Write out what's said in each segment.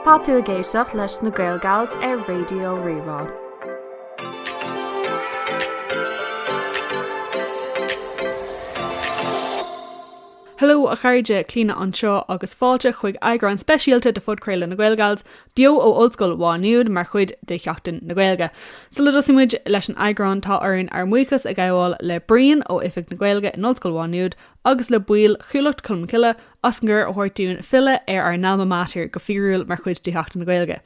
Tá tú ag éisteacht leis na Gaelgals ar Raidió Rí-Rá. Heileo a chairde, Clíona anseo agus fáilte chuig eagrán speisialta de phodchraoladh na Gaelgals, beo ó Ollscoil Mhá Nuad mar chuid de Sheachtain na Gaeilge. Sula dtosaíonn muid leis an eagrán tá orainn ár mbuíochas a ghabháil le Brian ó Oifig na Gaeilge in Ollscoil Mhá Nuad agus le baill Chuallacht Cholmcille as an gcuireadh a thabhairt dúinn filleadh ar ár n-alma mater go fíorúil mar chuid de Sheachtain na Gaeilge.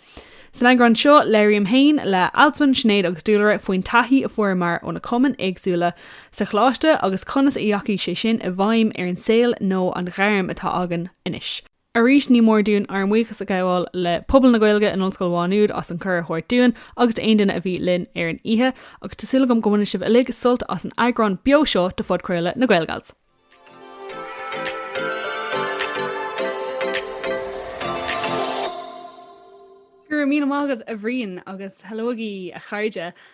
San eagrán seo labhraím féin le Alswyn, Sinéad agus Dúlra faoin taithí a fuaireamar ó na cumainn éagsúla sa choláiste agus conas a ndeachaigh sé sin i bhfeidhm ar an saol nó an ghairm atá againn anois. Arís ní mór dúinn ár mbuíochas a ghabháil le pobal na Gaeilge in Ollscoil Mhá Nuad as an gcuireadh a thabhairt dúinn agus d'aon duine a bhí linn ar an oíche agus tá súil agam go mbaineann sibh uilig sult as an eagrán beo seo de phodchraoladh na Gaelgals. Go raibh míle maith agat a Bhrian agus heileoigí a chairde.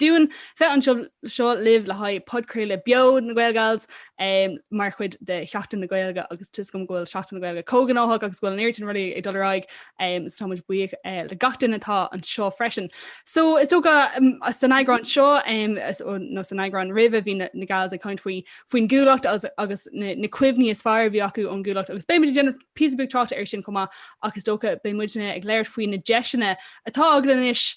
Dúinn bheith anseo seo libh le haghaidh podchraoladh beo na Gaelgals mar chuid de Sheachtain na Gaeilge agus tá a fhios agam go bhfuil Seachtain na Gaeilge chomh gnóthach agus go bhfuil an oiread sin rudaí ag dul ar aghaidh so táimid buíoch le gach duine atá anseo freisin. So is dócha san eagrán seo nó san eagrán roimhe bhí na Gals ag caint faoin gCuallacht agus na cuimhní is fearr a bhí acu ón gCuallacht agus beidh muid ag déanamh píosa beag tráchta air sin chomh maith ach is dócha beidh muidne ag labhairt faoi na deiseanna atá againn anois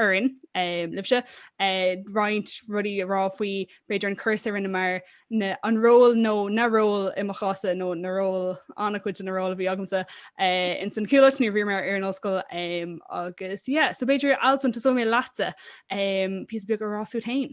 orainn uilig, libhse roinnt rudaí a rá faoi b'fhéidir an cúrsa a rinneamar nó an ról nó na ról i mo chás nó na ról an-chuid de na róil a bhí agamsa ins an Chuallacht nuair a bhí mé ar an ollscoil agus yeah so b'fhéidir Alswyn tosóidh mé leatsa píosa beag a rá fút fhéin.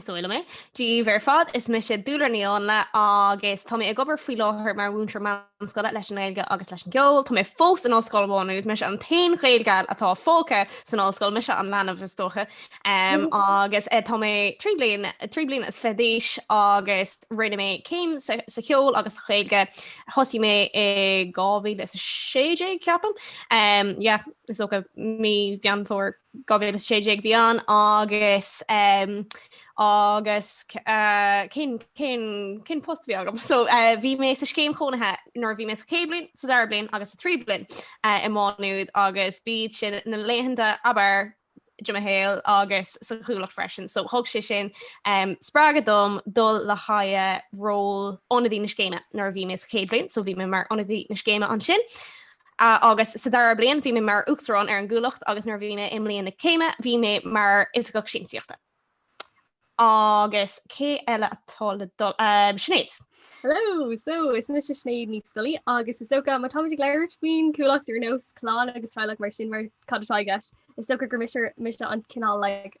Is dóigh liom mé. Dia daoibh ar fad is mise Dúlra Ní Áinle agus tá mé ag obair faoi láthair mar mhúinteoir meánscoile leis an nGaeilge agus leis an gceol. Tá mé fós in Ollscoil Mhá Nuad, mise an t-aon Ghaelgal atá fágtha san ollscoil, mise an leanbh is dócha. Um, agus eh, tá mé trí bliana trí bliana is fiche d'aois agus rinne mé céim sa sa cheol agus sa Ghaeilge. Thosaigh mé i 2016 ceapaim. Um, yeah, is dócha mí Mheán Fómhair 2016 a bhí ann agus cén post a bhí agam? So bhí mé sa scéim chónaithe nuair a bhí mé sa chéad bhliain, sa dara bliain agus sa tríú bliain i Maigh Nuad agus b'iad sin na laethanta ab fhearr de mo shaol agus sa Chuallacht freisin. So thug sé sin spreagadh dom dul le haghaidh ról ionadaí na scéime nuair a bhí mé sa chéad bhliain, so bhí mé mar ionadaí na scéime ansin. agus sa dara bliain bhí mé mar Uachtarán ar an gCuallacht agus nuair a bhí mé i mbliain na céime bhí mé mar Oifigeach Siamsaíochta. Agus cé eile atá le dul? Sinéad. Hello! So is mise Sinéad Ní Scolaí agus is dócha má táimid ag labhairt faoin Cuallacht ar nós clann agus teaghlach mar sin mar cad atá i gceist, is dócha gur mise an cineál like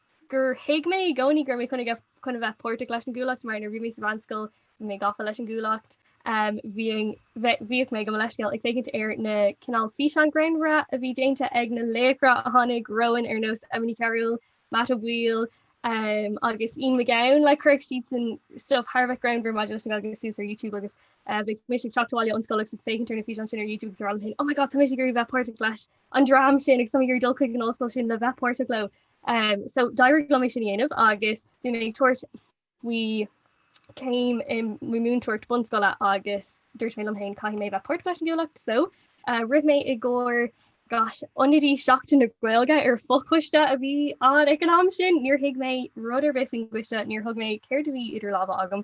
gur thuig mé i gcónaí go raibh mé chun a bheith páirteach leis an gcuallacht mar nuair bhí mé sa mheánscoil bhí mé gafa leis an gcuallacht. Bhíodh mé gabh mo leithscéal ag féachaint ar na cineál físeán greannmhara a bhí déanta ag na laochra a tháinig romhainn ar nós Emma Ní Chearúil, Matt Ó Baoill agus Ian Mac Gabhann like chuirfeadh siadsan stuif thar a bheith greannmhar maidir leis an nGaeilge suas ar YouTube agus bhí mise ag teacht abhaile ón scoil agus ag féachaint ar na físeáin sin ar YouTube agus ag rá liom féin 'oh my god tá mise ag iarraidh bheith páirteach leis'. an dream sin agus tá mé ag iarraidh dul chuig an ollscoil sin le bheith páirteach leo. Um, so d'éirigh liom é sin a dhéanamh agus bhí mé ag tabhairt faoi céim i múinteoireacht bunscoile agus dúirt mé liom féin caithfidh mé bheith páirteach leis an gcuallacht, so uh, rith mé i gcóir gosh ionadaí seachtain na Gaeilge ar fochoiste a bhí ann ag an am sin, níor thuig mé rud ar bith faoin gcoiste, níor thuig mé céard a bhí idir lámha agam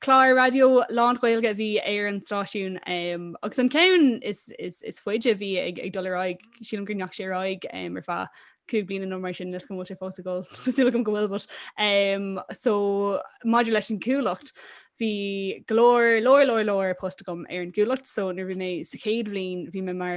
Clár raidió lán-Ghaeilge a bhí ar an stáisiún agus an ceann is faide a bhí ag dul ar aghaidh, sílim gur ndeachaigh sé ar aghaidh ar feadh cúig bliana nó mar sin, níl a fhios agam an bhfuil sé fós ag dul, tá súil agam go bhfuil but so maidir leis an gcuallacht bhí go leor, leor, leor, leor post agam ar an gcuallacht so nuair a bhí mé sa chéad bhliain bhí mé mar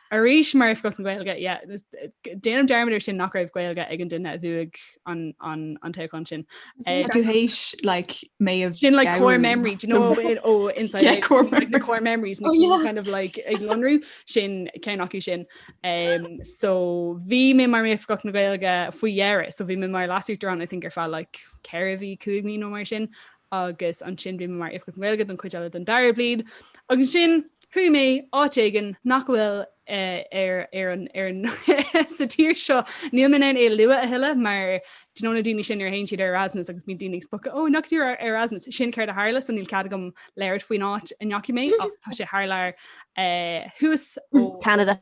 Arís mar oifigeach na Gaeilge, yeah, déanaim dearmad ar sin nach raibh Gaeilge ag an duine a bhuaigh an toghchán sin. Sin tú tar éis like may have Sin like core memory, do you know it oh inside yeah, core, like, memory. core memories oh, yeah. kind of like ag lonrú sin ceann acu sin. Um, so bhí mé mar mé oifigeach na Gaeilge faoi dheireadh, so bhí mé mar Leas-Uachtarán I think ar feadh like ceithre mhí cúig mhí nó mar sin agus ansin bhí mé mar Oifigeach Gaeilge don chuid eile den dara bliain agus ansin chuaigh mé áit éigin nach bhfuil sa tír seo, níl mé in ann é a lua a thuilleadh mar do you know na daoine sin nuair a théann siad ar Erasmus agus bíonn daoine ag spochadh ó an ndeachaigh tú ar Erasmus, sin céard a tharla so níl cead agam labhairt faoin áit a ndeachaigh mé ach tá sé thar lear it was Canada.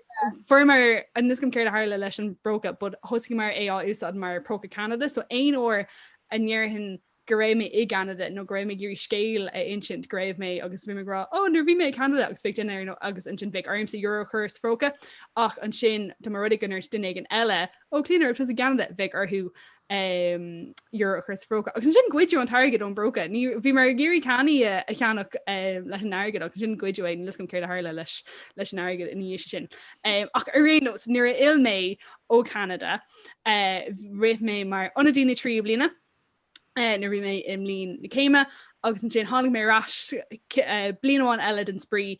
Fuaireamar an níl a fhios agam céard a tharla leis an bpróca, but thosaíomar é á úsáid mar próca Canada, so aon uair a ndéarfainn go raibh mé i gCeanada nó go raibh mé ag iarraidh scéal a insint go raibh mé agus bhí mé ag rá ó nuair bhí mé i Canada agus bheadh dinnéar nó agus ansin bheadh ormsa euro a chur sa phróca ach ansin dá mba rud é go ndúirt duine éigin eile ó Clíona an raibh tusa i gCeanada bheadh orthu euro a chur sa phróca agus ansin goideadh an t-airgead ón bpróca. Bhíomar ag iarraidh cannaí a cheannach leis an airgead agus ansin goideadh é níl a fhios agam céard a tharla leis leis an airgead ina dhiaidh sin. Ach ar aon nós nuair a fhill mé ó Cheanada rith mé mar ionadaí na tríú bliana nuair bhí mé i mbliain na céime agus ansin tháinig mé ar ais bliain amháin eile den spraoi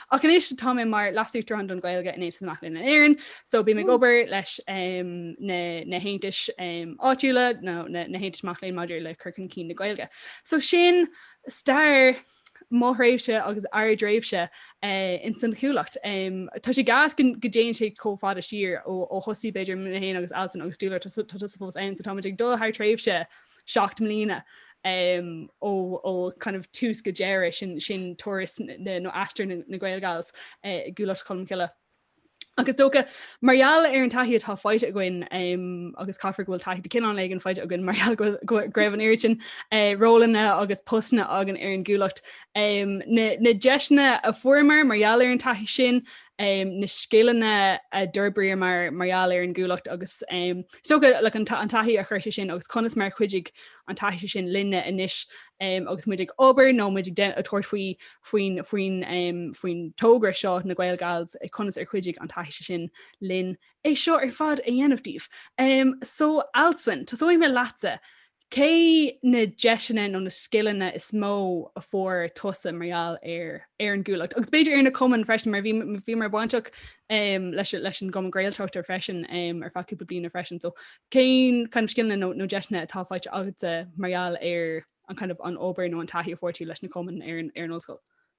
Ach anois tá mé mar Leasuachtarán don Ghaeilge in Aontas na Mac Léinn in Éirinn, so bím ag obair leis na haontais áitiúla nó na haontais mac léinn maidir le cur chun cinn na Gaeilge. So sin stair mo thréimhse agus ár dtréimhse ins san Chuallacht. Tá sé gas go dtéann sé chomh fada siar ó thosaigh b'fhéidir mé féin agus Alswyn agus Dúlra tá tusa fós ann so táimid ag dul thar tréimhse seacht mbliana ó kind of tús go deireadh, sin turas nó aistear na Gaelgals i gCuallacht Cholmcille. Ach is dócha mar gheall ar an taithí atá faighte againn agus caithfear go bhfuil taithí de chineál éigin faighte againn mar gheall go raibh an oiread sin rólanna agus postanna againn ar an gCuallacht. Na deiseanna a fuaireamar mar gheall ar an taithí sin, na scileanna a d'fhorbraíomar mar gheall ar an gCuallacht agus Is dócha like an taithí a chuir sé sin agus conas mar a chuidigh an taithí sin linne anois agus muid ag obair nó muid ag tabhairt faoi faoin faoin faoin togra seo na Gaelgals, conas ar chuidigh an taithí sin linn é seo ar fad a dhéanamh daoibh. So, Alswyn, tosóidh mé leatsa. Cé na deiseanna nó na scileanna is mó a fuair tusa mar gheall ar an gCuallacht? Agus b'fhéidir ar na cumainn freisin, mar bhíomar bainteach leis an gCumann Gaelach freisin ar feadh cúpla bliana freisin. So cén kind of scileanna nó deiseanna atá faighte agatsa mar gheall ar an kind of an obair nó an taithí a fuair tú leis na cumainn ar an ollscoil?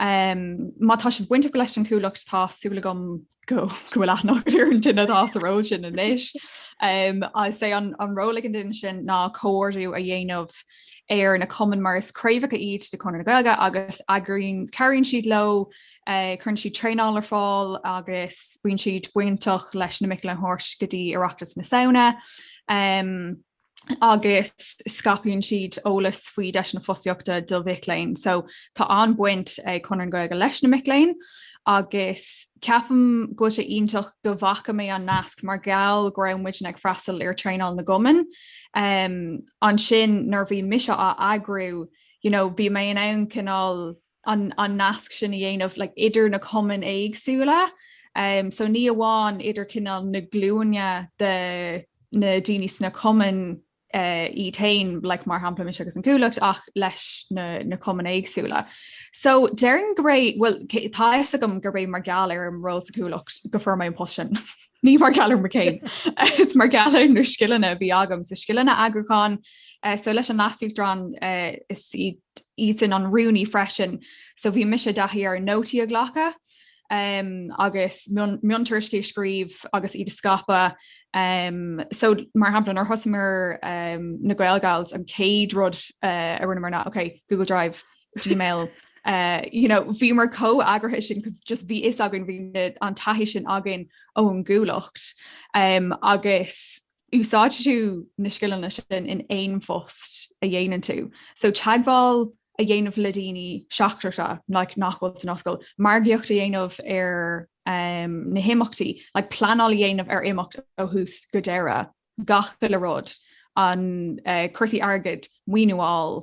Má tá sibh bainteach leis an Cuallacht tá súil agam go bhfuil aithne agaibh ar an duine atá sa ról sin anois. Is é an ról ag an duine sin ná comhordú a dhéanamh ar na cumainn mar is craobhacha iad de Chonradh na Gaeilge agus eagraíonn cabhraíonn siad leo cuireann siad traenáil ar fáil agus bíonn siad bainteach leis na mic léinn a thabhairt go dtí Oireachtas na Samhna. agus scaipeann siad eolas faoi deiseanna fostaíochta do mhic léinn. So tá an-bhaint ag Conradh na Gaeilge leis na mic léinn agus ceapaim go bhfuil sé iontach go bhfaca mé an nasc mar gheall go raibh muidne ag freastal ar traenáil na gcumann. Um, ansin nuair bhí mise á eagrú, you know, bhí mé in ann cineál an nasc sin a dhéanamh like idir na cumainn éagsúla um so ní amháin idir cineál na glúine de na daoine sna cumainn eh iad féin like mar shampla mise agus an Cuallacht ach leis na na cumainn éagsúla. So déarfainn gurb é bhuel tá a fhios agam gurb é mar gheall ar an ról sa Cuallacht go bhfuair mé an post sin ní mar gheall ar mo chéim is mar gheall ar na scileanna a bhí agam so scileanna eagrúcháin eh so leis an leasuachtarán eh is iad Is iadsan an rúnaí freisin, so bhí mise i dtaithí ar nótaí a ghlacadh um, agus miontuairiscí a scríobh agus iad a scaipeadh. Um, so mar shampla, nuair a thosaíomar um, na Gaelgals, an chéad rud uh, a rinneamar ná, ok, Google Drive, Gmail, Uh, you know, bhí muid chomh eagraithe sin cos just bhí a fhios againn bhí an taithí sin againn ón gCuallacht um, agus úsáidfidh tú na scileanna sin in aon phost a dhéanann tú. So teagmháil a dhéanamh le daoine seachtracha like nach bhfuil san ollscoil, margaíocht a dhéanamh ar em na himeachtaí, like pleanáil a dhéanamh ar imeacht ó thús go deireadh, gach uile rud, an eh cúrsaí airgid, maoiniú a fháil,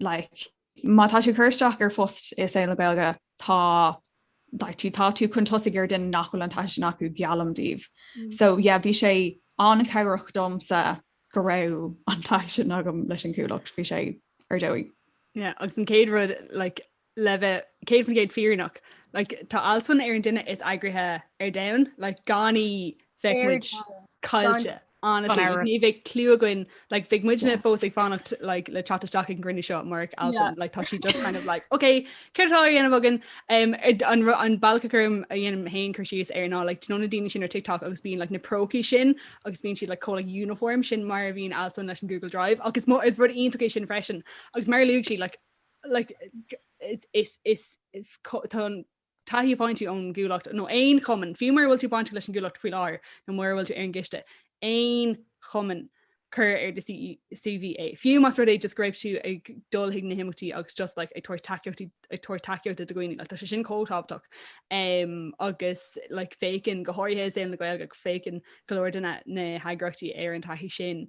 like má tá tú ag cur isteach ar phost i saol na Gaeilge tá like tú tá tú chun tosaigh ar duine nach bhfuil an taithí sin acu geallaim daoibh mm. so yeah bhí sé an-chabhrach domsa go raibh an taithí sin agam leis an gCuallacht bhí sé ar dóigh yeah agus an chéad rud like le bheith 100% fírinneach, like, tá Alswyn ar an duine is eagraithe ar domhan, like, gan í bheadh muid caillte, honestly, like, ní bheadh cliú againn, like, bheadh muidne fós ag fanacht, like, le teacht isteach ag an gcruinniú seo murach Alswyn, yeah. like, tá sí just kind of like, ok, céard atá á dhéanamh againn, um, an, an bealach gur mhaith liom chun cur síos air ná, like, d'you know na daoine sin ar TikTok agus bíonn, like, na prócaí sin agus bíonn siad, like, chomh, like, uniform sin mar a bhíonn Alswyn leis an Google Drive, agus is rud iontach é sin freisin, agus mar a luaigh sí, like, taithí bainteach ón gCuallacht nó aon chumann, fiú mura bhfuil tú bainteach leis an gCuallacht faoi láthair nó mura bhfuil tú ar an gcoiste, aon chumann, cuir ar do CV é. Fiú más rud é just go raibh tú ag dul chuig na himeachtaí agus just like, ag tabhairt tacaíochta do dhaoine, like, tá sé sin chomh tábhachtach. Um, agus like, féachann, go háirithe i saol na Gaeilge, féachann go leor de na, na heagraíochtaí ar an taithí sin.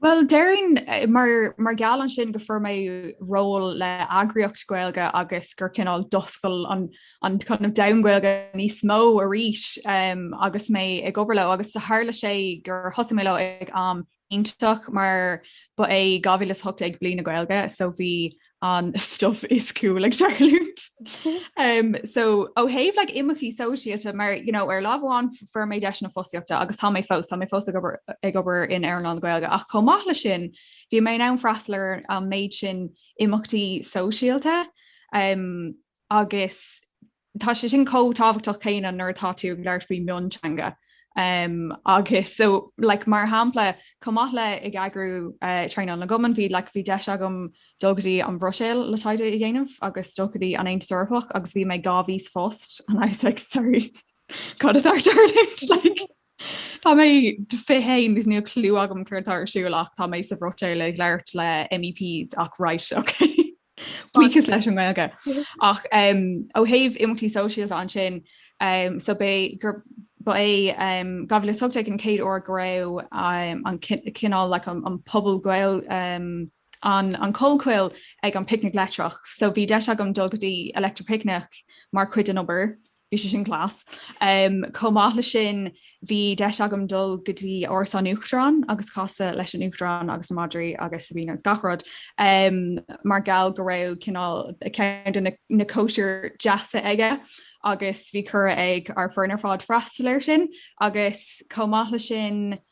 Bhuel déarfainn mar gheall air sin go bhfuair mé ról le heagraíocht Gaeilge agus gur cineál d'oscail an kind of domhan Gaeilge níos mó arís agus mé ag obair leo agus tharla sé gur thosaigh mé leo ag am iontach mar ba é 2018 Bliain na Gaeilge so bhí an stuif is cool ag tarlúint. Um, so ó thaobh like, imeachtaí sóisialta mar you know, ar lámh amháin fuair mé deis na fostaíochta agus tá mé fós tá mé fós ag obair in earnáil na Gaeilge ach chomh maith le sin bhí mé in ann freastal ar an méid sin imeachtaí sóisialta. Um, agus tá sé sin chomh tábhachtach céanna nuair atá tú ag labhairt faoi mhionteanga um, agus so, like, mar shampla, chomh maith le ag eagrú uh, traenáil na gcumann, bhí like, bhí deis agam dul go dtí an Bhruiséil le taighde a dhéanamh agus dul go dtí an Aontas Eorpach agus bhí mé dhá mhí sa phost and I was like, sorry, cad atá ar tarlúint? Like, Tá mé fiche a haon agus níl clú agam cad atá ar siúl ach tá mé sa Bhruiséil ag labhairt le MEPs ach right, okay. Buíochas leis an nGaeilge. Ach ó thaobh imeachtaí sóisialta ansin so ba é dhá mhíle is a hocht déag an chéad uair go raibh an cineál an puball Gaeilge An Chollchoill ag an picnic leictreach, so bhí deis agam dul go dtí Electric Picnic mar chuid den obair. bhí sé sin class. Chomh maith le sin bhí deis agam dul go dtí Áras an Uachtaráin agus casadh leis an Uachtarán agus na madraí agus Sabina agus gach rud. Mar gheall go raibh cineál ceann de na cóisirí deasa aige agus bhí cuireadh ag ár bhfoireann ar fad freastal air sin agus chomh maith le sin,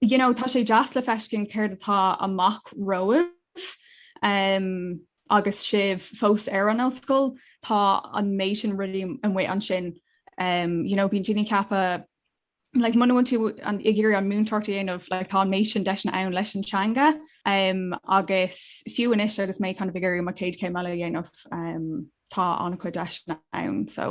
you know, tá sé deas le feiscint céard atá amach romhaibh um, agus sibh fós ar an ollscoil tá an méid sin rudaí amuigh ansin um, you know, bíonn daoine ag ceapadh like, muna bhfuil tú ag iarraidh an mhúinteoireacht a dhéanamh like, tá an méid sin deiseanna ann leis an teanga um, agus fiú anois agus mé kind of ag iarraidh mo chéad céim eile a dhéanamh um, tá an-chuid deiseanna ann so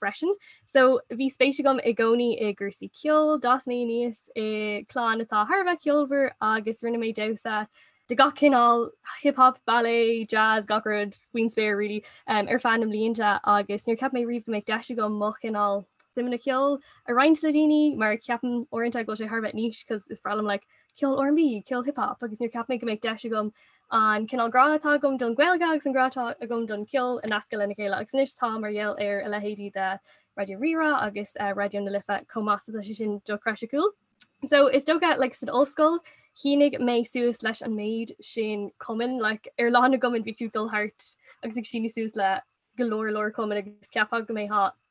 freisin. So bhí spéis agam i gcónaí i gcúrsaí ceoil, d'fhás mé aníos i clann atá thar a bheith ceolmhar agus rinne mé damhsa de gach cineál, hip hop, ballet, jazz, gach rud faoin spéir really um, ar feadh na mblianta agus níor cheap mé riamh go mbeadh deis agam mo chineál suimeanna ceoil a roinnt le daoine mar ceapaim uaireanta go bhfuil sé thar a bheith niche cos is breá liom like, ceol R&B, ceol hip hop agus níor cheap mé go mbeadh deis agam an cineál grá atá agam don Ghaeilge agus an grá atá agam don cheol a nascadh lena chéile agus anois tá mar gheall ar a leithéidí de Raidió Rí-Rá agus Raidió na Life chomh maith so tá sé sin dochreidsiúil. So is dócha like san ollscoil shínigh mé suas leis an méid sin cumainn like ar lá na gcumann bhí tú ag dul thart agus ag síniú suas le go leor leor cumainn agus ceapfá go mbeadh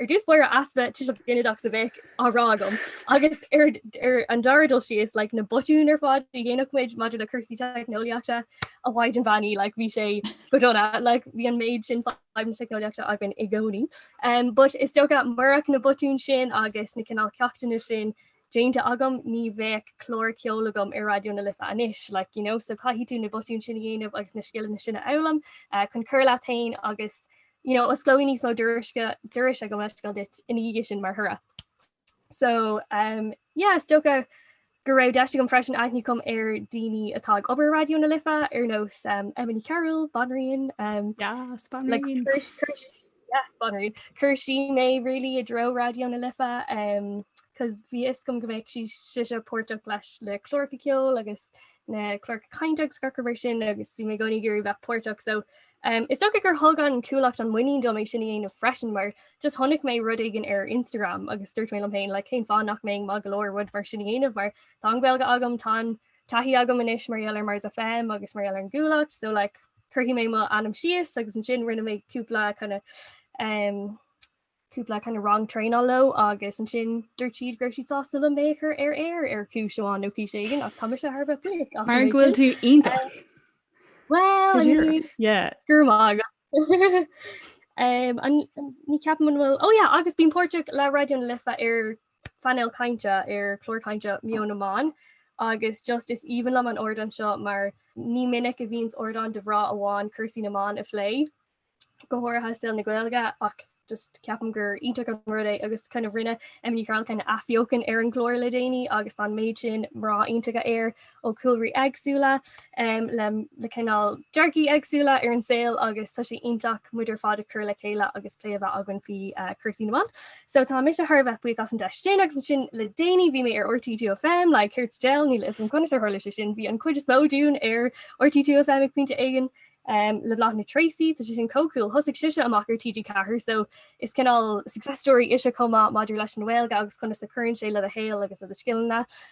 Ar dtús bharr easpa tuiseal ginideach sa mhéid a bhí á rá agam agus ar an dara dul síos like na botúin ar fad a dhéanadh muid maidir le cúrsaí teicneolaíochta a Mhaighdean Bheannaithe like bhí sé go dona like bhí an méid sin fadhb teicneolaíochta againn i gcónaí. But is dócha murach na botúin sin agus na cineál ceachtanna sin déanta agam, ní bheadh clár ceoil agam ar Raidió na Life anois, like, you know, so caithfidh tú na botúin sin a dhéanamh agus na scileanna sin a fhoghlaim chun cur leat féin agus, you know, osclóidh níos mó doras i gcomhair meascáil duit ina dhiaidh sin mar thoradh. So, um, yeah, is dócha go raibh deis agam freisin aithne a chur ar daoine atá ag obair Raidió na Life ar nós um, Emma Ní Chearúil, Banríon, um, yes, Banríon. Like, Yes banríon. Chuir sí mé really i dtreo Raidió na Life um cos bhí fhios agam go mbeadh sí sise páirteach leis le cláracha ceoil agus na cláracha cainte agus gach rud mar sin agus bhí mé i gcónaí ag iarraidh bheith páirteach so um is dócha gur thug an Chuallacht an muinín dom é sin a dhéanamh freisin mar just chonaic mé rud éigin ar Instagram agus dúirt mé liom féin like cén fáth nach mbeinn maith go leor rud mar sin a dhéanamh mar tá an Ghaeilge agam tá an taithí agam anois mar gheall ar Mars FM agus mar gheall ar an gCuallacht so like cuirfidh mé mo ainm síos agus ansin rinne mé cúpla kind of um cúpla kind of rang traenála leo agus ansin dúirt siad go raibh siad sásta le mé chur ar aer ar cúis amháin nó cúis éigin ach tá se thar bheith Mar go bhfuil tú iontach Well go raibh maith agat ní cheapaim an bhfuil ó agus bíonn páirteach le Raidió na Life ar phainéal cainte ar chlár cainte Meon na mBan agus just is aoibhinn liom an ardán seo mar ní minic a bhíonns ardán do mhná amháin cúrsaí na mban a phlé, go háirithe i saol na Gaeilge ach just ceapaim gur iontach an rud é agus kind of rinne Emma Ní Chearúil kind of athbheochan ar an gclár le déanaí agus tá an méid sin mná iontacha air ó chúlraí éagsúla le le cineál dearcthaí éagsúla ar an saol agus tá sé iontach muid ar fad ag cur le chéile agus plé a bheith againn faoi chúrsaí na mban. So tá mise thar a bheith buíoch as an deis sin agus ansin le déanaí bhí mé ar RTÉ 2FM like céard the hell níl a fhios agam conas a tharla sé sin bhí an chuid is mó dúinn ar RTÉ 2FM ag pointe éigin le Bláthnaid Treacy tá sé sin chomh cool thosaigh sise amach ar TG4 so is cineál success story ise chomh maith maidir leis an nGaeilge agus conas a chuireann sé le do shaol agus le do scileanna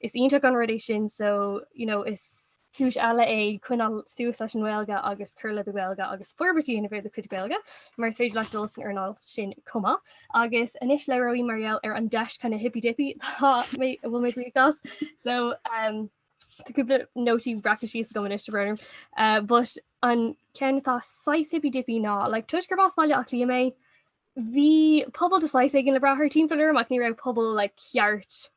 Is iontach an rud é sin so you know is cúis eile é coinneáil suas leis an nGaeilge agus cur le do Ghaeilge agus forbairt a dhéanamh ar do chuid Gaeilge mar is féidir leat dul san earnáil sin chomh maith. Agus anois labhróidh mar gheall ar an deis kind of hippy dippy atá mé a bhfuil mé buíoch as so um, Tá cúpla nótaí breacta síos agam anois don't worry. Uh, but an ceann atá saghas hippy dippy ná like toisc gurb as Baile Átha Cliath mé Bhí pobal de shaghas éigin le brath thar timpeall orm ach ní raibh pobal like ceart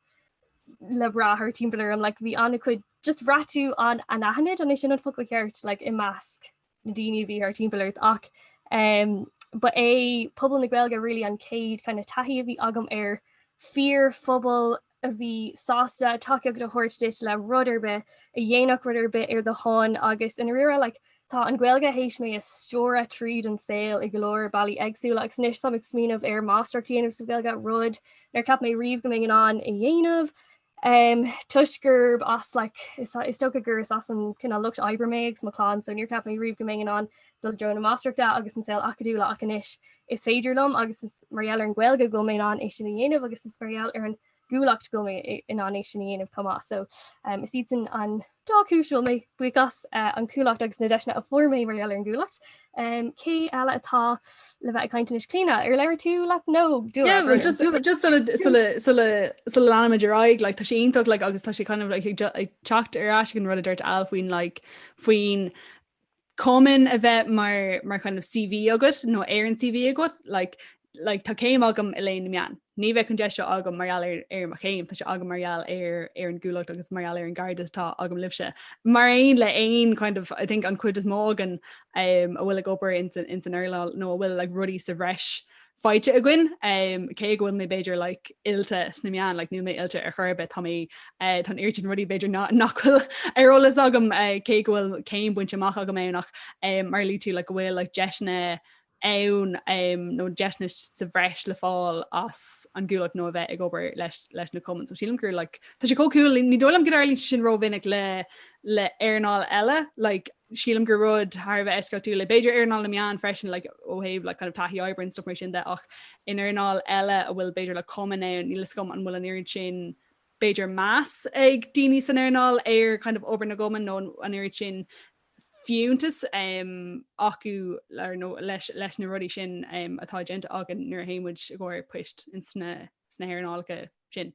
le brath thar timpeall orm, like, bhí ana chuid just braithstint an anaithnid an é sin an focal ceart like, i measc na daoine a bhí thar timpeall ort ach um, ba é pobal na Gaeilge really an céad kind of taithí a bhí agam ar fíorphobal, a bhí sásta tacaíocht a thabhairt duit le rud ar bith, a dhéanfadh rud ar bith ar do shon agus i ndáiríre like tá an Ghaeilge th'éis mé a stiúradh tríd an saol i go leor bealaí éagsúla agus anois táim ag smaoineamh ar máistreacht a dhéanamh sa Ghaeilge, rud nár cheap mé riamh go mbeinn in ann a dhéanamh um toisc gurb as like is is dócha gur is as an kind of lucht oibre mé agus mo chlann so níor cheap mé riamh go mbeinn in ann i dtreo na máistreachta agus an saol acadúla ach anois is féidir liom agus is mar gheall ar an Ghaeilge go bhfuil mé in ann é sin a dhéanamh agus is mar gheall ar an gCuallacht go bhfuil mé in ann é sin a dhéanamh chomh maith. So is iadsan an dá chúis a bhfuil mé buíoch as, an Chuallacht agus na deiseanna a fuair mé mar gheall ar an gCuallacht. Cé eile atá le bheith ag caint anois? Clíona, ar labhair tú leat nó yeah, well, just, just sula leanimid ar aghaidh like, tá sé iontach like, agus tá sé kind of, like, ag teacht ar ais don rud a dúirt Al faoin like, faoin cumann a bheith mar mar kind of CV agat nó ar an CV agat like like tá céim agam i léann na meán. Ní bheadh an deis seo agam mar gheall ar ar mo chéim, tá sé agam mar gheall ar ar an gcuallacht agus mar gheall ar an gcairdeas atá agam libhse. Mar aon le aon kind of I think an chuid is mó againn um a bhfuil ag obair ins an ins an earnáil nó a bhfuil like rudaí sa bhreis faighte againn, cé go bhfuil mé b'fhéidir like oilte sna meáin, like níl mé oilte ar chor ar bith, tá mé eh, tá an oiread sin rudaí b'fhéidir ná- nach bhfuil ar eolas agam eh, cé go bhfuil céim bainte amach agam ann ach eh, mar a luaigh tú, like go bhfuil like deiseanna ann eh, nó deiseanna sa bhreis le fáil as an gcuallacht nó a bheith ag obair leis, leis na cumainn. So sílim gur like, tá sé chomh cool, ní dóigh liom go dtarlaíonn sé sin rómhinic le, le earnáil eile, like Sílim gur rud thar a bheith eisceachtúil é. B'fhéidir earnáil na meán freisin like, ó thaobh like, kind of, taithí oibre and stuff mar sin de ach in earnáil eile a bhfuil b'fhéidir like cumann ann, níl fhios agam an bhfuil an oiread sin b'fhéidir meas ag daoine san earnáil ar kind of, obair na gcumann nó an oiread sin fiúntas um, acu ar, nó leis, leis na rudaí sin um, atá déanta againn nuair a théimid i gcomhair poist in sna, sna hearnálacha sin.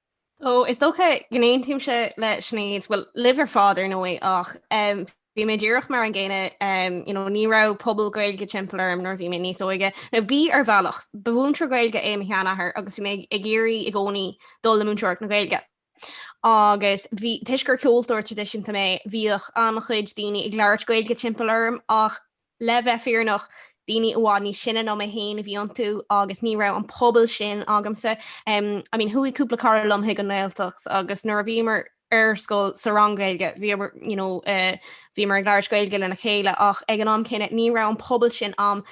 So, is dócha go n-aontaímse le Sinéad, bhuel, libh ar fad ar ndóigh ach bhí mé díreach mar an gcéanna, you know, ní raibh pobal Gaeilge timpeall orm nuair bhí mé níos óige. Nó bhí ar bhealach, ba mhúinteoir Gaeilge é mo sheanathair agus bhí mé ag iarraidh i gcónaí dul le múinteoireacht na Gaeilge. Agus bhí, toisc gur ceoltóir traidisiúnta mé, bhíodh an-chuid daoine ag labhairt Gaeilge timpeall orm ach, Le bheith fírinneach, daoine i bhfad níos sine ná mé féin a bhí iontu agus ní raibh an pobal sin agamsa. I mean chuaigh cúpla cara liom chuig an nGaeltacht agus nuair a bhíomar ar scoil sa rang Gaeilge, bhíomar, you know, eh bhíomar ag labhairt Gaeilge lena chéile ach ag an am céanna ní raibh an pobal sin a'm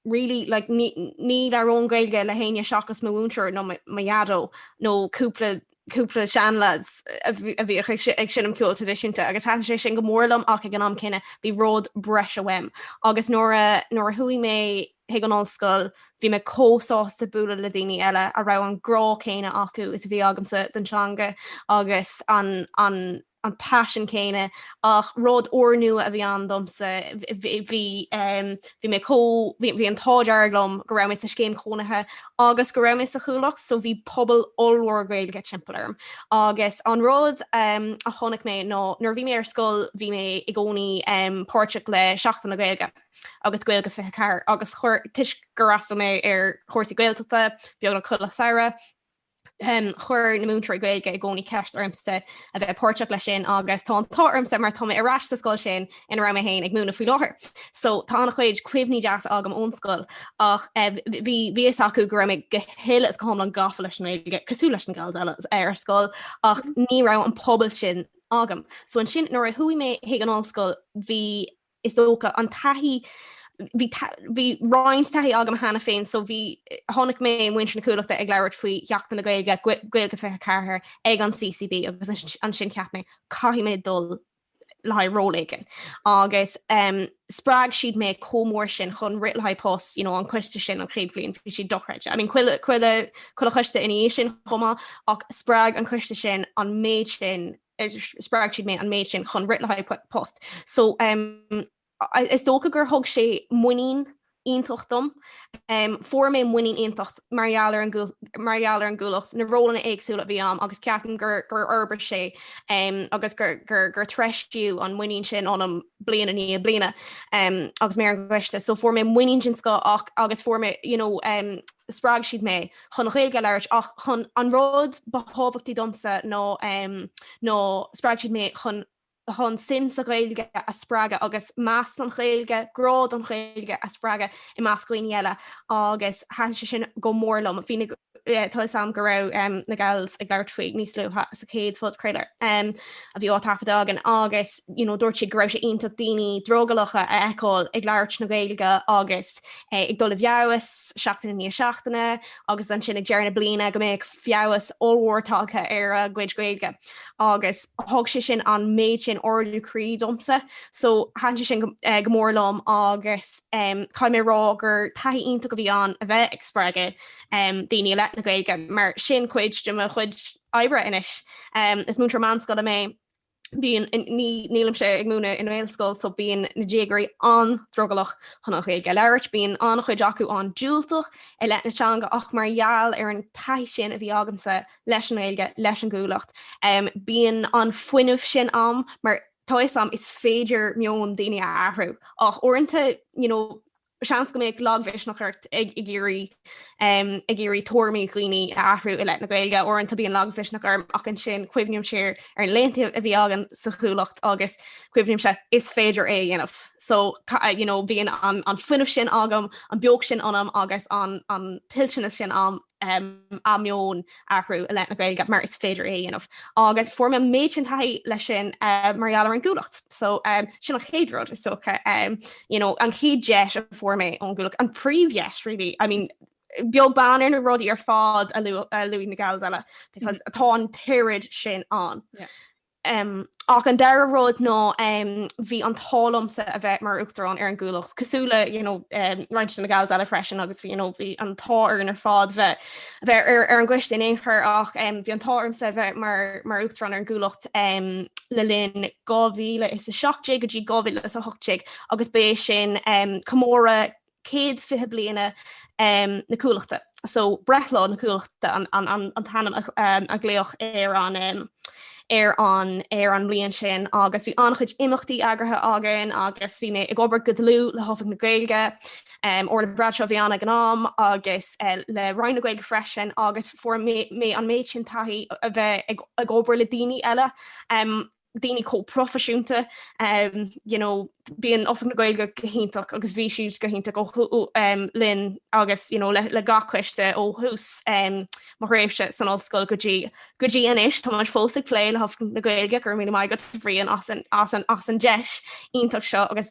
really like ní labhróinn Gaeilge le héinne seachas mo mhúinteoir nó mo dhaideo nó cúpla cúpla seanleads a bhíodh ag seinm ceoil traidisiúnta agus thaitin sé sin go mór liom ach ag an am céanna bhí rud breise uaim agus nuair a nuair a chuaigh mé chuig an ollscoil bhí mé chomh sásta bualadh le daoine eile a raibh an grá céanna acu is a bhí agamsa don teanga agus an an paisean céanna ach rud úrnua a bhí ann domsa, bhí mé chomh, bhí an t-ádh dearg liom go raibh mé sa scéim chónaithe agus go raibh mé sa Chuallacht so bhí pobal ollmhór Gaeilge timpeall orm agus an rud a chonaic mé ná nuair a bhí mé ar scoil bhí mé i gcónaí páirteach le Seachtain na Gaeilge agus Gaeilge 24 agus toisc gur fhreastail mé ar chúrsaí Gaeltachta beagnach chuile Samhradh, Chuir na múinteoirí Gaeilge i gcónaí ceist ormsa a bheith páirteach leis sin agus tá an t-ádh ormsa mar tá mé ar ais sa scoil sin ina raibh mé féin ag múineadh faoi láthair. So tá an-chuid cuimhní deasa agam ón scoil ach bhí a fhios acu go raibh mé go huile is go hiomlán gafa leis an nGaeilge, cosúil leis na Gals eile, ar scoil ach ní raibh an pobal sin agam. So ansin nuair a chuaigh mé chuig an ollscoil bhí is dócha, an taithí, bhí, bhí roinnt taithí agam cheana féin, so bhí, chonaic mé muintir na cuallachta ag labhairt faoi Sheachtain na Gaeilge, Gaeilge 24, ag an CCB agus ansin cheap mé, caithfidh mé dul le haghaidh ról éigin. Agus spreag siad mé chomh mór sin chun rith le haghaidh post, you know, an coiste sin an chéad bhliain, bhí siad dochreidte. I mean, chuile, chuile, chuile choiste ina dhiaidh sin chomh maith, ach spreag an coiste sin an méid sin spreag siad mé an méid sin chun rith le haghaidh post. So is dócha gur thug sé muinín iontach dom. Fuair mé muinín iontach mar gheall ar an gcuallacht, na rólanna éagsúla a bhí ann agus ceapaim gur fhorbair sé agus gur treisíodh an muinín sin ionam bliain i ndiaidh bliana agus mé ar an gcoiste. So fuair mé muinín den scoth agus fuair mé, you know, spreag siad mé chun Gaeilge a labhairt ach chun an rud ba thábhachtaí domsa ná um, ná spreag siad mé chun chun suim sa Ghaeilge a spreagadh agus meas don Ghaeilge, grá don Ghaeilge a spreagadh i measc daoine eile agus thaitn sé sin go mór liom. Bhí na eh, tá a fhios a'm go raibh um, na gals ag labhairt faoi níos luaithe sa chéad phodchraoladh um, a bhí á thaifeadadh againn agus you know, dúirt siad go raibh sé iontach daoine drogallacha a fheiceáil ag labhairt na Gaeilge agus ag dul i bhfeabhas seachtaine i ndiaidh seachtaine agus ansin ag deireadh na bliana go mbeadh feabhas ollmhór tagtha ar a gcuid Gaeilge agus thug sé sin an méid sin ardú croí domsa so thaitn sé sin go mór liom agus caithfidh mé a rá gur taithí iontach a bhí ann a bheith ag spreagadh daoine i leith na Gaeilge mar sin cuid de mo chuid oibre anois. Is múinteoir meánscoile mé bíonn nílimse ag múineadh i nGaelscoil so bíonn na déagóirí an-drogallach chun an Ghaeilge a labhairt, bíonn an-chuid acu an-diúltach i leith na teanga ach mar gheall ar an taithí sin a bhí agamsa leis an nGaeilge, leis an gCuallacht, bíonn an fuinneamh sin a'm mar tá a fhios a'm is féidir meon daoine a athrú ach uaireanta, you know, Seans go mbeadh lagmhisneach ort ag iarraidh ag iarraidh tuairimí dhaoine a athrú i leith na Gaeilge. Uaireanta bíonn lagmhisneach orm ach ansin cuimhním siar ar an laethanta a bhí agam sa Chuallacht agus cuimhnímse is féidir é a dhéanamh. So you know bíonn an fuinneamh sin agam, an beocht sin ionam agus an tuillteanas sin ionam. an meon a athrú i leith na Gaeilge mar is féidir é a dhéanamh agus fuair mé an méid sin taithí leis sin mar gheall ar an gCuallacht. So sin an chéad rud is dócha, you know, an chéad deis a fuair mé ón gCuallacht, an príomhdheis really. I mean, beag beann ar na rudaí ar fad a luaigh na gals eile because atá an t-oiread sin ann. Ach an dara rud ná bhí an t-ádh liomsa a bheith mar Uachtarán ar an gCuallacht, cosúil le you know roinnt de na gals eile freisin, agus you know bhí an t-ádh orainn ar fad bheith ar an gcoiste in aon chor, ach bhí an t-ádh ormsa a bheith mar Uachtarán ar an gCuallacht le linn 2017 go dtí 2018 agus ba é sin comóradh 120 bliana na Cuallachta, so breithlá na Cuallachta an t-ainm a glaodh ar an mbliain sin agus bhí an-chuid imeachtaí eagraithe againn agus bhí mé ag obair go dlúth le hOifig na Gaeilge, Orla Bradshaw a bhí ann ag an am agus le Roinn na Gaeilge freisin agus fuair mé an méid sin taithí a bheith ag obair le daoine eile daoine chomh proifisiúnta you know bíonn Oifig na Gaeilge go hiontach agus bhí siad go hiontach linn agus you know le gach coiste ó thús mo thréimhse san ollscoil go dtí anois. Tá muid fós ag plé le hOifig na Gaeilge, go raibh míle maith agat a Bhriain as an deis iontach seo agus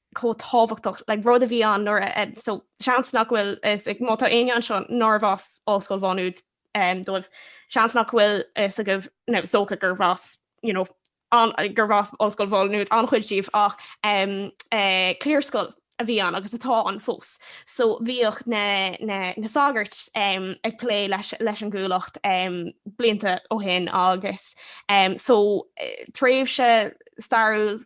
chomh tábhachtach, like, rud a bhí ann nuair a, eh, so, seans nach bhfuil, is, like, má tá éinne anseo nárbh as Ollscoil Mhá Nuad, eh, dóibh, seans nach bhfuil fhios agaibh, now, is dócha gurbh as, you know, an, eh, gurbh as Ollscoil Mhá Nuad an-chuid díbh ach, em, eh, cliarscoil a bhí ann agus atá ann fós. So bhíodh na, na, na sagairt, em, ag plé leis, leis an gCuallacht, em, blianta ó shin agus, em, so, eh, tréimhse stairiúil,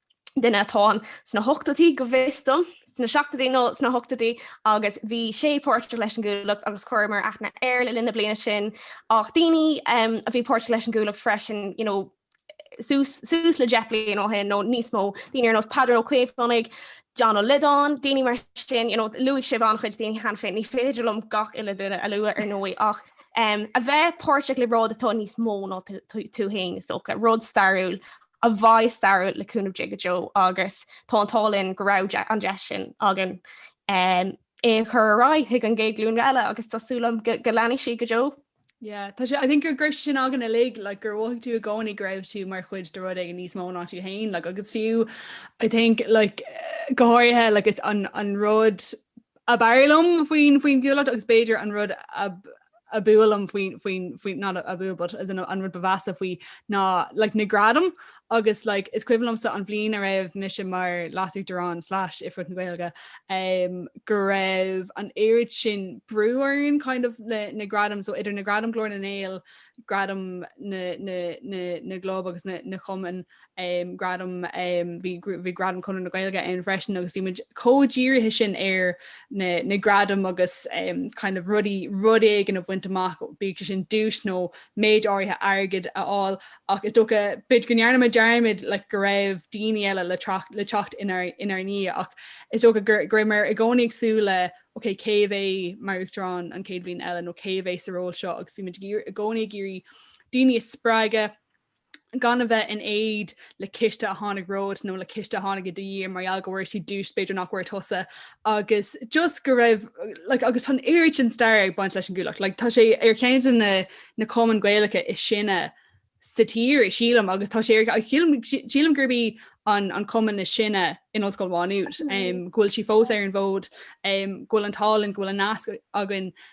duine atá ann sna hochtóidí go bhfios dom, sna seachtóidí nó sna hochtóidí agus bhí sé páirteach leis an gCuallacht agus chuireamar aithne air le linn na bliana sin ach daoine a bhí páirteach leis an gCuallacht freisin you know, suas, suas le deich bliain ó shin nó níos mó daoine ar nós Peadar Ó Caomhánaigh, John Ó Loideáin, daoine mar sin you know, luaigh sibh an-chuid daoine cheana féin, ní féidir liom gach uile duine a lua ar ndóigh ach um, a bheith páirteach i rud atá níos mó ná tú féin is dócha, rud stairiúil a bheith stairiúil le cúnamh Dé go deo agus tá an t-ádh linn go raibh an deis sin againn é a chur ar aghaidh chuig an gcéad ghlúin eile agus tá súil agam go leanfaidh sí go deo. Yeah, tá sé, I think go raibh sé sin againn uilig, like, gur mhothaigh tú i gcónaí go raibh tú mar chuid de rud éigin níos mó ná tú féin, like, agus fiú, I think, like, go háirithe, like, is an, an rud ab fhearr liom faoin, faoin gCuallacht agus b'fhéidir an rud ab, ab fhuath liom faoin, faoin, faoin, not ab fhuath but as in an rud ba mheasa faoi ná like na gradaim agus like is cuimhin liomsa an bhliain a raibh mise mar leas-uachtarán slash oifigeach na Gaeilge um go raibh an oiread sin brú orainn kind of le na gradaim so idir na gradaim Glór na nGael, gradaim na, na, na, na gclub agus na, na gcumann um, gradam, um, bhí, bhí gradam Conradh na Gaeilge ann freisin agus bhí muid chomh dírithe sin ar na, na gradaim agus um, kind of rudaí rud éigin a bhaint amach, bíodh sin duais nó méid áirithe airgid a fháil ach is dócha b'fhéidir go ndearna muid dearmad like, go raibh daoine eile le, tracht, le teacht inár, inár ndiaidh ach is dócha go, go rabhamar i gcónaí ag súil ok cé a bheidh mar uachtarán an chéad bhliain eile nó cé a bheidh sa ról seo agus bhí muid i gcónaí ag iarraidh daoine a spreagadh gan a bheith in éad le coiste a tháinig romhat nó le coiste a tháinig i do dhiaidh mar gheall go bhfuair sí duais b'fhéidir nach bhfuair tusa agus just go raibh like, agus tá an oiread sin stair ag baint leis an gCuallacht like, tá sé ar cheann de na, na cumainn Ghaelacha is sine sa tír sílim agus tá sé ar ag sílim, sílim gurb í an, an cumann is sine in Ollscoil Mhá Nuad um, go bhfuil sí fós ar an bhfód um, go bhfuil an t-ádh linn go bhfuil an nasc againn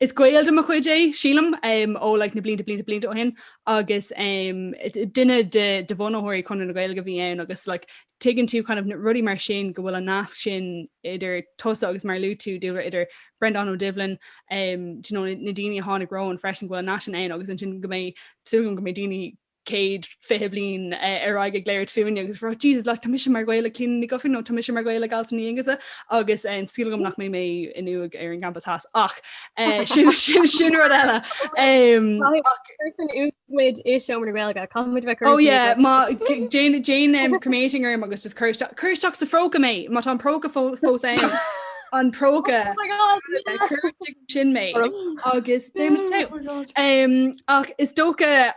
Is gaol de mo chuid é, sílim, ó like na blianta blianta blianta ó shin agus duine de bhunaitheoirí Chonradh na Gaeilge a bhí ann agus like tuigeann tú kind of rudaí mar sin go bhfuil an nasc sin idir tusa agus mar a luaigh tú dúradh idir Brendan Ó Doibhlin do you know na daoine a tháinig romhainn freisin go bhfuil an nasc sin ann agus ansin go mbeidh, súil agam go mbeidh daoine 120 bliain ar aghaidh ag labhairt fúinne agus ag rá Jesus like tá mise mar ghaol ag Clíona Ní Dhufaigh nó tá mise mar ghaol ag Alison Ní Aonghusa agus súil agam nach mbeidh mé in uaigh ar an gcampas theas ach sin sin rud eile muid i seomra Gaeilge caithfidh muid bheith oh yeah má déan déan cremating orm agus just cuir isteach sa phróca mé má tá an próca fó fós é an próca oh sin mé agus oh ach is dócha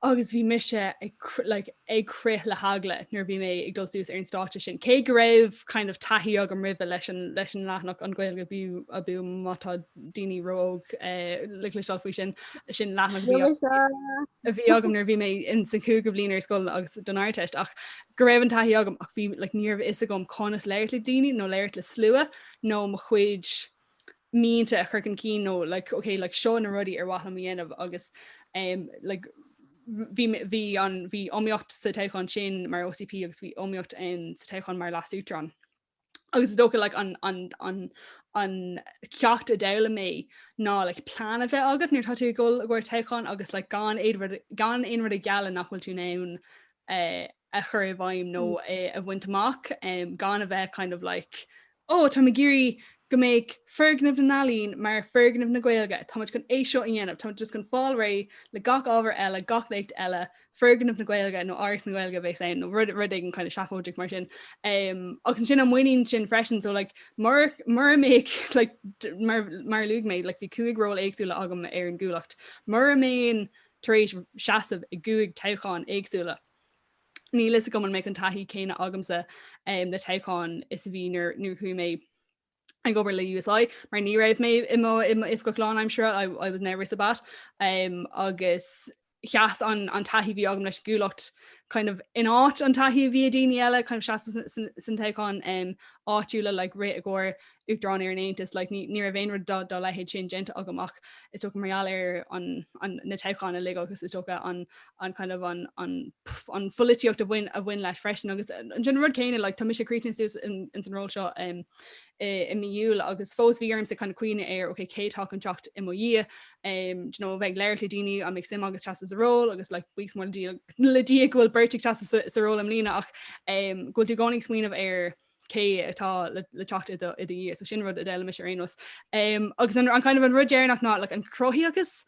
agus bhí mise ag like ag crith le heagla nuair a bhí mé ag dul suas ar an stáitse sin, cé go raibh kind of taithí agam roimhe leis an leis an leathanach an Ghaeilge abú abú má tá daoine ró-óg eh le cloisteáil faoi sin, sin leathanach a bhí agam a bhí agam nuair a bhí mé in sa chúigiú bliain ar scoil agus don Ardteist ach go raibh an taithí agam ach bhí like ní raibh a fhios agam conas labhairt le daoine nó labhairt le slua nó mo chuid mianta a chur chun cinn nó like ok like seo na rudaí ar mhaith liom a dhéanamh agus um like bhí mé bhí an bhí iomaíocht sa toghchán sin mar OCP agus bhí iomaíocht in sa toghchán mar leasuachtarán. Agus is dócha like an an an an ceacht a d'fhoghlaim mé ná le like, plán a bheith agat nuair tá tú ag gabháil i gcomhair toghchán agus like, gan éad gan aon rud a ghealladh nach bhfuil tú in ann uh, a chur i bhfeidhm nó mm. a, a bhaint amach um, gan a bheith kind of like Ó, tá mé ag iarraidh go mbeadh foirgneamh na n-ealaíon mar foirgneamh na Gaeilge, tá muid chun é seo a dhéanamh, tá muid just chun fáil réidh le gach ábhar eile, gach léacht eile, foirgneamh na Gaeilge nó Áras na Gaeilge a bheas ann nó rud, rud éigin kind of seafóideach mar sin. Um, agus ansin an muinín sin freisin, so like, mar, mura mbeadh, like, mar, mar a luaigh mé, like, bhí cúig ról éagsúla agam ar an gCuallacht, mura mbeinn tar éis seasamh i gcúig toghchán éagsúla, Níl fhios agam an mbeadh an taithí céanna agamsa le toghcháin is a bhí nuair a chuaigh mé ag obair le USI mar ní raibh mé i mo oifigeach lánaimsire I was never a sabbat um, agus sheas an, an taithí bhí agam leis an gCuallacht kind of in áit an taithí a bhí ag daoine eile kind of sheas sna toghcháin um, áitiúla le like, rith i gcomhair Uachtarán ar an Aontas, like, ní, ní raibh aon rud dá, dá leithéid sin déanta agam ach is dócha mar gheall ar an, an, na toghcháin uilig agus is dócha an, an kind of an, an, pff, an pholaitíocht a bhain, a bhain leis freisin agus an rud céanna, like, tá mise críochnaithe suas in, ins an ról seo um, i, i mí Iúil agus fós bhí ormsa kind of cuimhneamh ar, ok, cé atá chun teacht i mo dhiaidh, um, do you know, a bheith ag labhairt le daoine an mbeadh suim agat seasamh sa ról agus, like, buíochas mór le Dia, le Dia go bhfuil beirt ag seasamh sa, sa ról i mbliana ach um, go bhfuil tú i gcónaí ag smaoineamh ar, cé atá le teacht i do dhiaidh, so sin rud a d'fhoghlaim mise ar aon nós. Agus an kind of an rud deireanach ná like an chruthaitheacht agus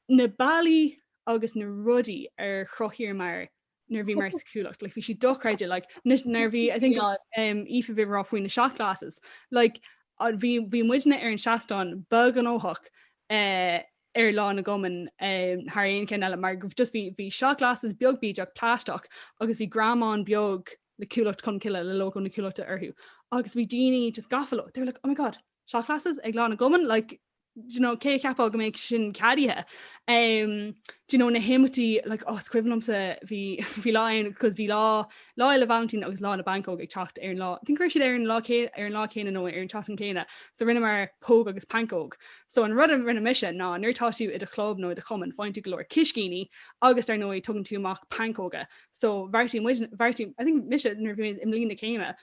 na bealaí agus na rudaí ar chruthaíomar nuair a bhíomar sa Chuallacht, like bhí sé dochreidte like nuair a bhí I think Aoife a bhí ag rá faoi na shot glasses, like bhí bhí muidne ar an seastán ba ghnóthach ar lá na gcumann thar aon cheann eile mar just bhí bhí shot glasses beag bídeach plaisteach agus bhí greamán beag le Cuallacht Cholmcille, le logo na Cuallachta orthu agus bhí daoine just gafa leo, they were like, oh my god, shot glasses ag Lá na gCumann, like do you know, cé a cheapfá go mbeadh sin ceadaithe? Um, do you know, na himeachtaí, like, oh, is cuimhin liomsa, bhí, bhí lá ann, cos bhí lá, lá Fhéile Vailintín agus lá na bpancóg ag teacht ar an lá, I think go raibh siad ar an lá cé, ar an lá céanna nó ar an tseachtain céanna, so rinneamar póg agus pancóg. So an rud a rinne mise ná nuair atá tú i do chlub nó i do chumann faigheann tú go leor coiscíní agus dar ndóigh tugann tú amach pancóga, so bheartaigh muid, bheartaigh, I think mise nuair a bhí mé i mbliain na céime,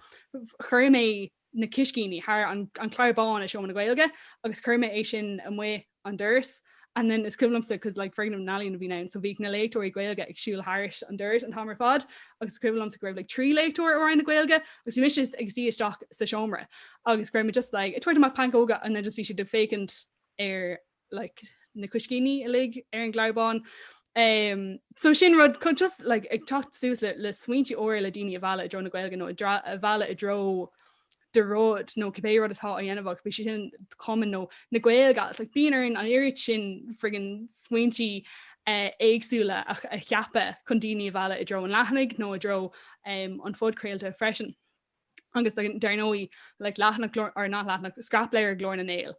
chuir mé na coiscíní thar an, an clár bán i Seomra na Gaeilge agus chuir mé é sin amuigh an doras and then is cuimhin liomsa cos like foirgneamh na n-ealaíon a bhíonn ann so bhíodh na léachtóirí Gaeilge ag siúl thairis an doras an t-am ar fad agus is cuimhin liomsa go raibh like trí léachtóir ó Roinn na Gaeilge agus bhí mise ag suí isteach sa seomra agus go raibh mé just like ag tabhairt amach pancóga and then just bhí siad ag féachaint ar like na coiscíní uilig ar an gclár bán. Um, so sin rud chun just like, ag teacht suas le, le smaointe úra le daoine a mhealladh i dtreo na Gaeilge nó a mhealladh i dtreo do rud nó cibé rud atá á dhéanamh bíodh sin an cumann nó na Gaeilge agus like, bíonn orainn an oiread sin friggin smaointe uh, éagsúla a, a cheapadh chun daoine a mhealladh i dtreo an leathanaigh nó i dtreo um, an phodchraolta freisin. Agus dar ndóigh le like, leathanach or not leathanach scrapleabhar Glór na nGael.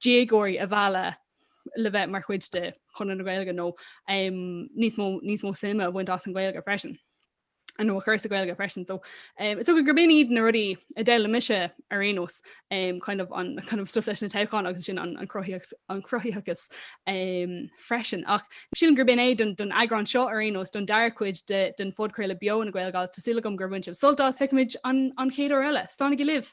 déagóirí a mhealladh le bheith mar chuid de Chonradh na Gaeilge nó níos mó níos mó suime a bhaint as an Ghaeilge freisin nó a chur sa Ghaeilge freisin. So um, so gurb in iad na rudaí a d'fhoghlaim mise ar aon nós um, kind of an kind of stuff leis na toghcháin agus sin an, an cruthaitheachas an cruthaitheachas um, freisin. Ach sílim gurb in é don, don eagrán seo ar aon nós don dara cuid de, den phodchraoladh Beo na Gaeilge agus tá súil agam gur bhain sibh sult as feicfimid an, an chéad uair eile. Slán libh!